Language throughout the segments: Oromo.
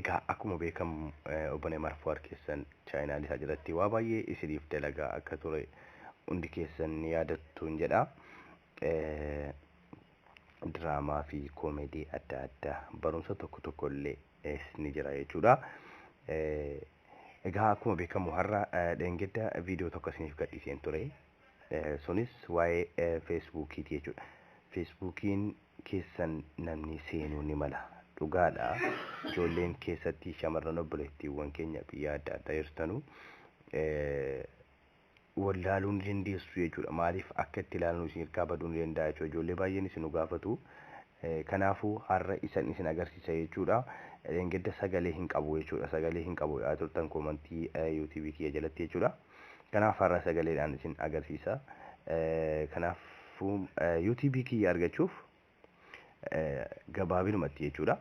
Egaa akkuma beekamu obbolee marfuwaar keessan chaayinaalii isaa jalatti waa baay'ee isiniif dalagaa akka ture hundi keessan ni yaadattuun jedha. Diraamaa fi koomedii adda addaa barumsa tokko tokko illee ni jira jechuudha. Egaa akkuma beekamu har'a dheengedda viidiyoo tokko isiniif gadhiiseen ture. Sunis waa'ee feesbuukiiti jechuudha. Feesbuukiin keessan namni seenuu ni mala. Dhugaadha ijoolleen keessatti shamarran obboleettiiwwan keenya biyya adda addaa jirtanu wallaaluu ni dandeessu jechuudha. Maaliif akka itti ilaalan isin hirkaa baduu ni danda'a jechuudha. Ijoollee baay'een isin nu gaafatu. Kanaafuu har'a isan isin agarsiisa jechuudha. Dheengadda sagalee hin qabu jechuudha. Sagalee hin qabu jedhaa turtan koomantii yuutuubii kiyya jalatti jechuudha. Kanaaf har'a sagaleedhaan isin agarsiisa. Kanaafuu UTB kiyya argachuuf gabaabinumatti jechuudha.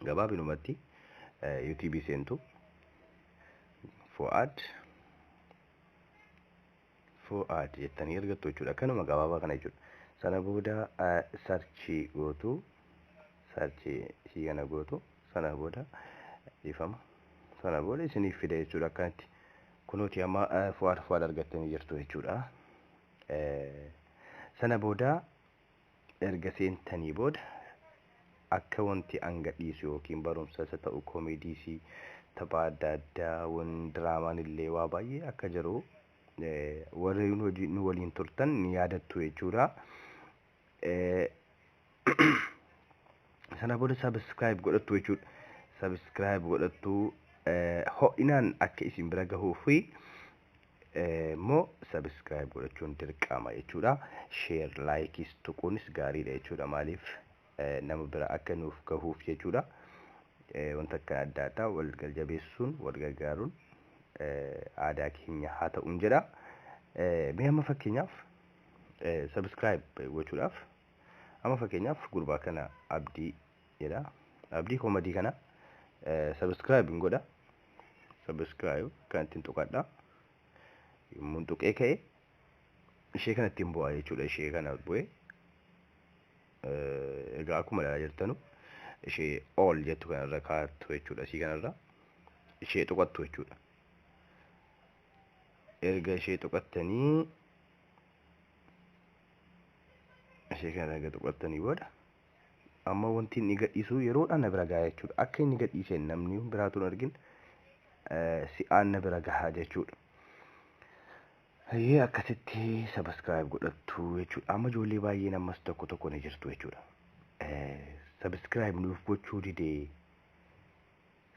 Gabaabinumatti UTB seentu Fuad Fuad jettanii argattu jechuudha. Kanuma gabaabaa kana jechuudha. Sana booda sarchi gootu sarchi ishii kana gootu sana booda dhiifama. Sana booda isiniif fida jechuudha akkanatti. Kunuuti amma fuad fuad argattanii jirtu jechuudha. Sana booda Erga seentanii booda akkawanti an gadhiisu yookiin barumsas ha ta'u komeediis taphaa adda addaa wan diraamaan illee waa baay'ee akka jiru warri hojii nu waliin turtan ni yaadattu jechuudha. Sana booda subscribe godhattu jechuudha. Subscribe godhattu ho'inaan akka isin bira gahuu fi immoo subscribe godhachuun dirqama jechuudha. Share, likes tuquunis gaariidha jechuudha. Maaliif nama bira akka nuuf gahuuf jechuudha. Wanta akkan adda addaa wal galjabeessuun wal gargaaruun aadaa keenya haa ta'uun jedha. Mee amma fakkeenyaaf subscribe gochuudhaaf amma fakkeenyaaf gurbaa kana abdii jedha abdii komadii kana subscribe hin godha subscribe kan ittiin tuqadha yommuun tuqee ka'e ishee kana ittiin bu'aa jechuudha ishee kana bu'e egaa akkuma ilaalaa jirtanu ishee all jettu kanarra kaattu jechuudha isii kanarra ishee tuqattu jechuudha erga ishee tuqattanii ishee kana erga tuqattanii booda Amma wanti inni gadhiisu yeroodhaan na bira gaha jechuudha. Akka inni gadhiiseen namni biraatu hin argin si'aan na bira gaha jechuudha. Hayyee akkasitti sabiskiraayib godhattu jechuudha. Amma ijoollee baay'een ammas tokko tokko ni jirtu jechuudha. Sabiskiraayib nuuf gochuu didee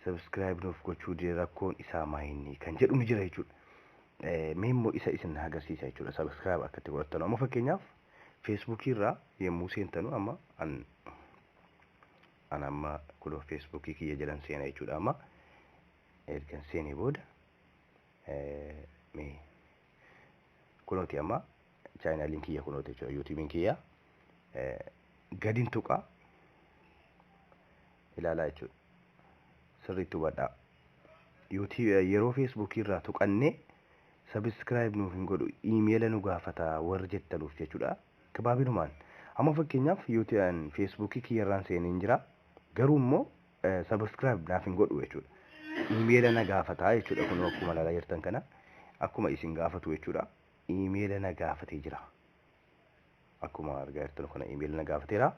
subscribe nuuf gochuu dide rakkoon isaa maayinni kan jedhu ni jira jechuudha. Mee immoo isa isin agarsiisa jechuudha subscribe akka itti godhattan amma fakkeenyaaf feesbuukii irraa yommuu seentanu amma an an amma kunoo feesbuukii kiyya jedhan seena jechuudha amma ergan seenee booda mee kunooti amma chaayinaaliin kiyya kunooti jechuudha yuutuubiin kiyya gadin tuqaa ilaalaa jechuudha. Sirriitti hubadhaa. Yuutii yeroo feesbuukii irraa tuqannee sabiskiraayib nuuf hin godhu iimeela nu gaafata warri jettanuuf jechuudha. Gabaabinumaan amma fakkeenyaaf yuutii an feesbuukii kiyyarraan seeneen jira garuu immoo sabiskiraayib naaf hin godhu jechuudha. Iimeela na gaafata jechuudha kun akkuma ilaalaa jirtan kana akkuma isin gaafatu jechuudha. Iimeela na gaafatee jira. Akkuma argaa jirtan kana email na gaafateera.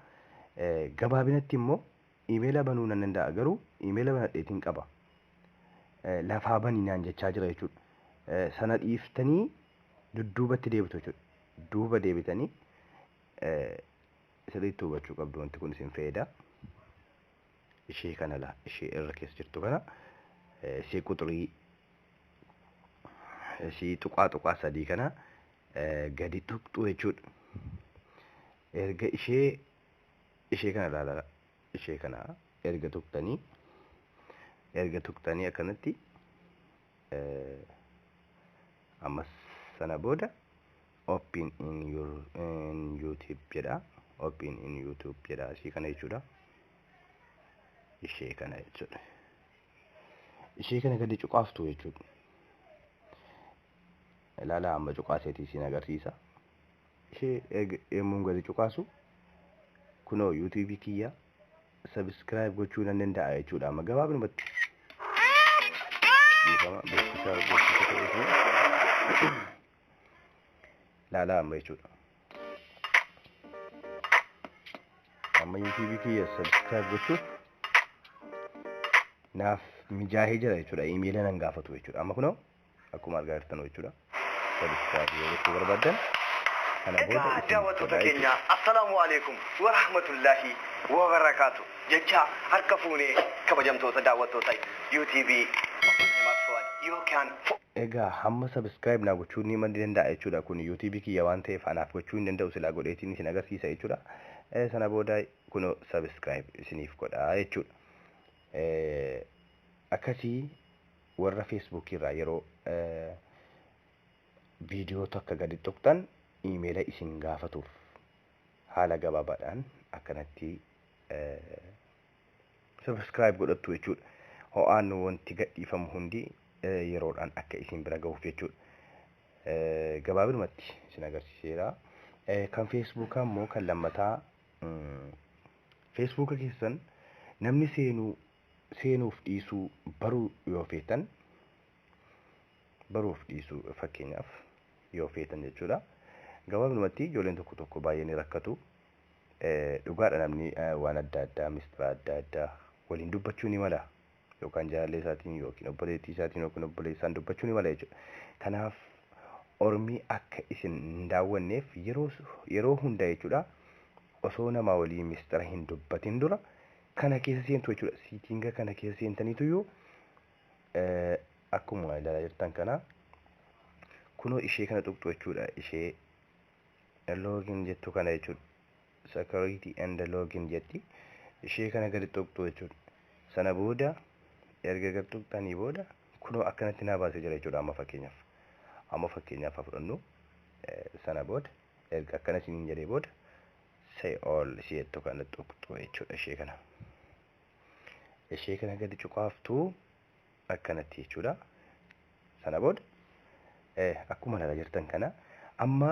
Gabaabinatti immoo emaila banuu nan danda'a garuu emaila banadheetiin qaba. Lafaa bani naan jechaa jira jechuudha. Sana dhiiftanii dudduubatti deebitu jechuudha. Duuba deebitanii sirriitti hubachuu qabdu wanti kun isin fayyada. Ishee kana laa ishee irra keessa jirtu kana ishee quxurii ishee tuqaa tuqaa sadii kana gadi tuqxu jechuudha. Erga ishee ishee kana ilaalaa ishee kana erga tuqxanii erga tuqxanii akkanatti ammas sana booda open in your in youtube jedha open in youtube jedha ishee kana jechuudha. Ishee kana jechuudha. Ishee kana gadi cuqaaftu jechuudha. Ilaalaa amma cuqaaseeti isin agarsiisa. Ishee eeg yommuun gadi cuqaasu kunoo yuutuubii kiyya sabiskiraayib gochuu nan danda'a jechuudha amma gabaabinumatti. Dhiifama beeksisa beeksisa ta'eefi ilaalaa amma jechuudha. Amma yuutuubii kiyya sabiskiraayib gochuuf naaf mijaahee jira jechuudha. Imeela nan gaafatu jechuudha. Amma kunoo akkuma argaa jirtan jechuudha. Subscribe yoo gochuu barbaaddan kana booda Egaa isin daawwattoota godhaa keenya jechuudha. assalaamu alaikum wa rahmatullaahi wa barakaatu jechaa harka fuunee kabajamtoota daawwattoota UTV yookaan Egaa hamma subscribe naa gochuu ni mandi danda'a jechuudha kun YouTube kiyya waan ta'eef anaaf gochuu hin danda'u silaa godheetiin isin agarsiisa jechuudha. Eh, Sana booda kunoo subscribe isiniif godhaa jechuudha. Eh, Akkasii warra Facebook irraa yeroo viidiyoo takka gadi tuqxan iimeela isin gaafatuuf haala gabaabaadhaan akkanatti subscribe godhattu jechuudha. Ho'aan wanti gadhiifamu hundi yeroodhaan akka isin bira gahuuf jechuudha. Gabaabinumatti isin agarsiiseera. Kan feesbuukaa immoo kan lammataa feesbuuka keessan namni seenuu seenuuf dhiisuu baruu yoo feetan baruuf dhiisuu fakkeenyaaf yoo feetan jechuudha. Gabaabnumatti ijoolleen tokko tokko baay'ee ni rakkatu. Dhugaadha namni waan adda addaa mistira adda addaa waliin dubbachuu ni mala. Yookaan jaalallee isaatiin yookiin obboleettii isaatiin yookiin obboleessaan dubbachuu ni mala jechuudha. Kanaaf ormii akka isin hin daawwanneef yeroo hunda jechuudha osoo namaa waliin mistira hin dubbatin dura kana keessa seentu jechuudha. Siitinga kana keessa seentaniituyyuu akkuma ilaalaa jirtan kana kunoo ishee kana tuqxu jechuudha. Ishee login jettu kana jechuudha. Security and login jetti. Ishee kana gadi tuqxu jechuudha. Sana booda erga gad tuqxanii booda kunoo akkanatti naa baasee jira jechuudha amma fakkeenyaaf. Amma fakkeenyaaf haa fudhannu sana booda erga akkana isiniin jedhee booda say all si jettu kana tuqxu jechuudha ishee kana ishee kana gadi cuqaaftu akkanatti jechuudha sana booda eh, akkuma ilaalaa jirtan kana amma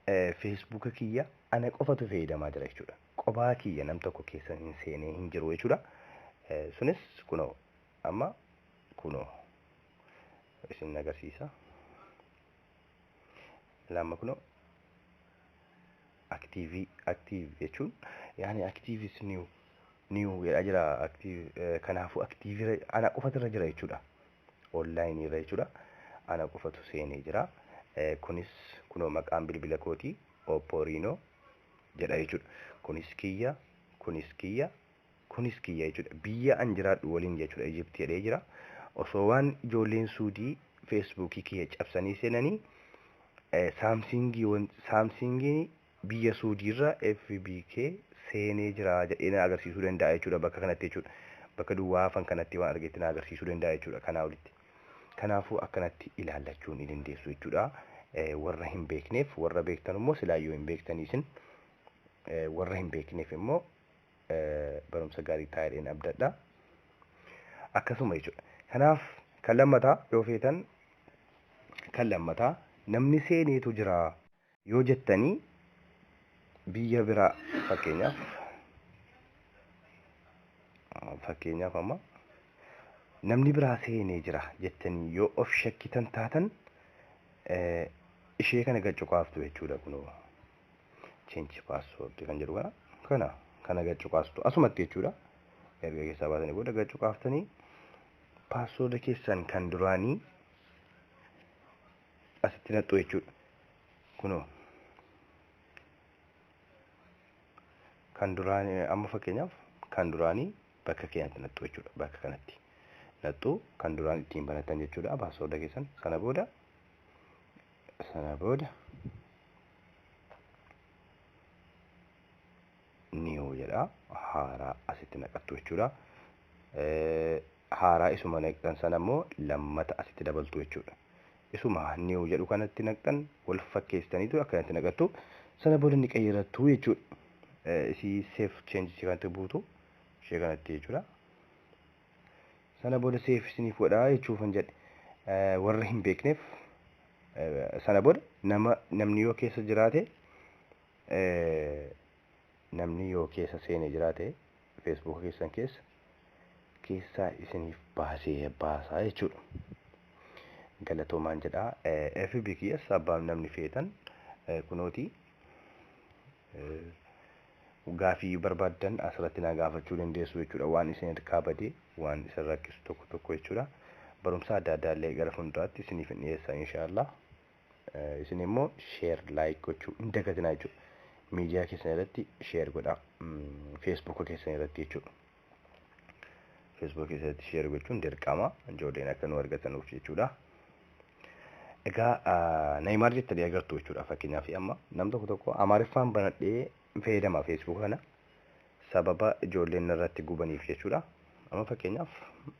eh, feesbuuka kiyya ana qofatu fayyadamaa jira jechuudha qophaa kiyya nam tokko keessa hin seenee hin jiru jechuudha eh, sunis kunoo amma kunoo isin agarsiisa lamma kunoo Active active jechuun yaani active is new new jedhaa jira active eh, kanaafuu active irra- ana qofatu irra jira jechuudha online irra jechuudha ana qofatu seenee jira Eh, kunis kunoo maqaan bilbila kooti oppo rino jedha jechuudha kunis kiyya kunis kiyya Kunis kiyya jechuudha. Biyya an jiraadhu waliin jechuudha Egypt jedhee jira. Osoo waan ijoolleen Suudii Facebook kiyya cabsanii seenanii Saamsiingii wan Saamsiingiin biyya Suudiirra FB kee seenee jira jedhee na agarsiisuu danda'a jechuudha bakka kanatti jechuudha. Bakka duwwaa hafan kanatti waan argetti na agarsiisuu danda'a jechuudha kanaa olitti. Kanaafuu akkanatti ilaallachuu ni dandeessu jechuudha. Warra hin beekneef warra beektan immoo silaayyuu hin beektanii isin warra hin beekneef immoo barumsa gaarii ta'a jedheen abdadha. Akkasuma jechuudha. Kanaaf kan lammataa yoo feetan kan lammataa namni seeneetu jira yoo jettanii biyya biraa fakkeenyaaf fakkeenyaaf amma namni biraa seenee jira jettanii yoo of shakkitan taatan ishee kana gad cuqaaftu jechuudha kunoo. change password kan jedhu kana kana kana gad cuqaastu asumatti jechuudha erga keessaa baatanii booda gad cuqaaftanii password keessan kan duraanii asitti naqxu jechuudha kunoo kan duraanii amma fakkeenyaaf kan duraanii bakka keenyatti naqxu jechuudha bakka kanatti naqxu kan duraan ittiin banatan jechuudha password keessan sana booda sana booda new jedha haaraa asitti naqattu jechuudha. Haaraa isuma naqxan sana immoo lammata asitti dabaltu jechuudha. Isuma new jedhu kanatti naqxan wal fakkeessitaniitu akkanatti naqattu sana booda ni qayyarattu jechuudha. Isii safe change kanatti buutu ishee kanatti jechuudha. Sana booda seef isiniif godhaa jechuufan jedhe warra hin beekneef sana booda nama namni yoo keessa jiraate namni yoo keessa seenee jiraate feesbuuka keessan keessa keessaa isiniif baasee baasaa jechuudha. Galatoomaan jedhaa FB kiyyas abbaan namni feetan kunooti. Gaafii barbaaddan asirratti na gaafachuu dandeessu jechuudha. Waan isin harkaa bade, waan isin rakkisu tokko tokko jechuudha. Barumsa adda addaa illee gara fuulduraatti isiniif hin dhiyeessa inshaallah. Isin immoo sheer laayik gochuu hin dagatinaa jechuudha. Miidiyaa keessan irratti sheer godhaa. Feesbuuka keessan irratti jechuudha. Facebook keessatti share gochuun dirqama ijoolleen akka nu argatanuuf jechuudha. Egaa Neymar jettanii agartu jechuudha fakkeenyaaf amma nam tokko tokko Amaariffaan banadhee fayyadama Facebook kana sababa ijoolleen irratti gubaniif jechuudha. Amma fakkeenyaaf